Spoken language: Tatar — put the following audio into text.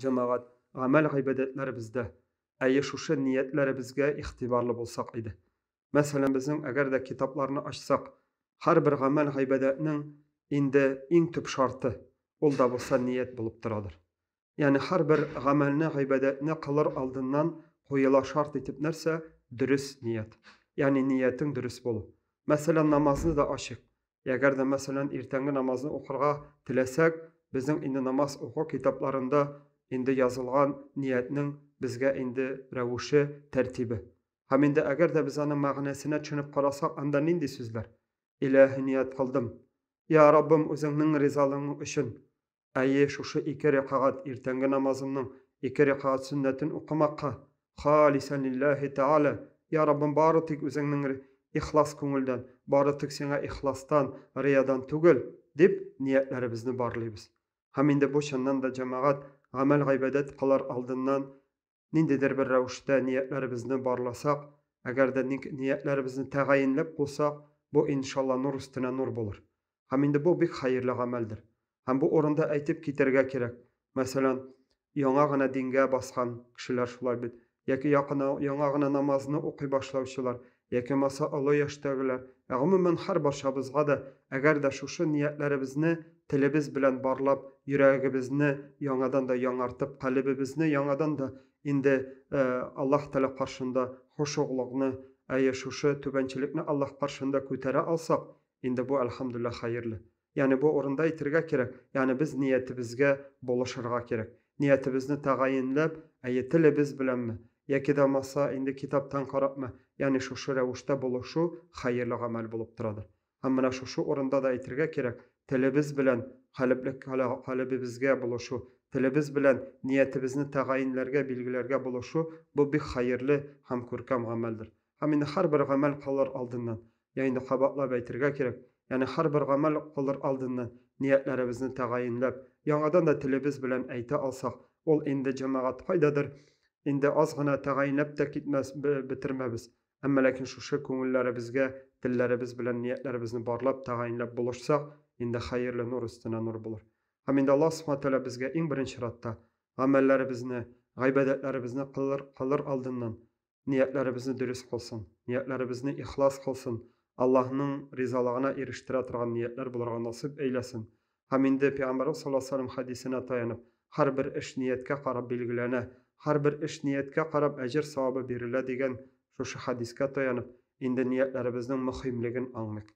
Җәмәгать, гамәл-гыйбадәтләребездә, әйе, шушы ниятләребезгә игътибарлы булсак иде. Мәсәлән, безнең әгәр дә китапларны ачсак, һәрбер гамәл-гыйбадәтнең инде иң төп шарты, ул да булса ният булып торадыр. Ягъни һәрбер гамәлне, гыйбадәтне кылыр алдыннан куела шарт итеп нәрсә? Дөрес ният. Ягъни ниятең дөрес булу. Мәсәлән, намазны да ачыйк. Әгәр дә, мәсәлән, иртәнге намазны укырга теләсәк, безнең инде намаз уку китапларында инде язылган ниятнең безгә инде рәвеше, тәртибе. Һәм инде әгәр дә без аның мәгънәсенә төшенеп карасак, анда нинди сүзләр? Иләһи ният кылдым. Я Раббым, үзеңнең ризалыгың өчен. Әйе, шушы ике рәкагать иртәнге намазымның ике рәкагать сөннәтен укымакка, халисән лилләһи тәгалә, йа Раббым, бары тик Үзеңнең ихлас күңелдән, бары тик Сиңа ихластан, риядан түгел, дип, ниятләребезне барлыйбыз. Һәм инде бу, чыннан да, җәмәгать, гамәл-гайбадәт кылар алдыннан ниндидер бер рәвештә ниятләребезне барласак, әгәр дә ник ниятләребезне тәгаенләп кулсак, бу, иншалла, нур өстенә нур булыр. Һәм инде бу бик хәерле гамәлдер. Һәм бу урында әйтеп китәргә кирәк, мәсәлән, яңа гына дингә баскан кешеләр шулай бит, яки якына, яңа гына намазны укый башлаучылар, я кемаса олы яшьтәгеләр, ә гомумән һәрбарчабызга да, әгәр дә шушы ниятләребезне телебез белән барлап, йөрәгебезне яңадан да яңартып, калебебезне яңадан да инде Аллаһ Тәгалә каршында хошугълыкны, әйе, шушы түбәнчелекне Аллаһ каршында күтәрә алсак, инде бу, әлхәмдүлилләһ, хәерле. Ягъни бу урында әйтергә кирәк, ягъни без ниятебезгә булышырга кирәк. Ниятебезне тәгаенләп, әйе, телебез беләнме, яки дә булмаса, инде китаптан карапмы, ягъни шушы рәвештә булышу хәерле гамәл булып торадыр. Һәм менә шушы урында да әйтергә кирәк, телебез белән калебле калебебезгә булышу, телебез белән ниятебезне тәгаенләргә, билгеләргә булышу, бу бик хәерле һәм күркәм гамәлдер. Һәм инде һәрбер гамәл кылыр алдыннан, я инде кабатлап әйтергә кирәк, ягъни һәрбер гамәл кылыр алдыннан ниятләребезне тәгаенләп, яңадан да телебез белән әйтә алсак, ул инде җәмәгать кайдадыр инде аз гына тәгаенләп тә китмәс, бетермәбез. Әмма ләкин шушы күңелләребезгә телләребез белән ниятләребезне барлап, тәгаенләп булышсак, инде хәерле нур өстенә нур булыр. Һәм инде Аллаһ Субхаһу Тәгалә безгә иң беренче чиратта гамәлләребезне, гыйбадәтләребезне кылыр, кылыр алдыннан ниятләребезне дөрес кылсын, ниятләребезне ихлас кылсын, Аллаһның ризалыгына ирештерә торган ниятләр булырга насыйп әйләсен. Һәм инде Пәйгамбәрбез саллаллаһу алейһи ва сәлләм хәдисенә таянып, һәрбер эш нияткә карап билгеләнә, һәрбер эш нияткә карап әҗер-савабы бирелә дигән шушы хәдискә таянып, инде ниятләребезнең мөхимлеген аңлыйк.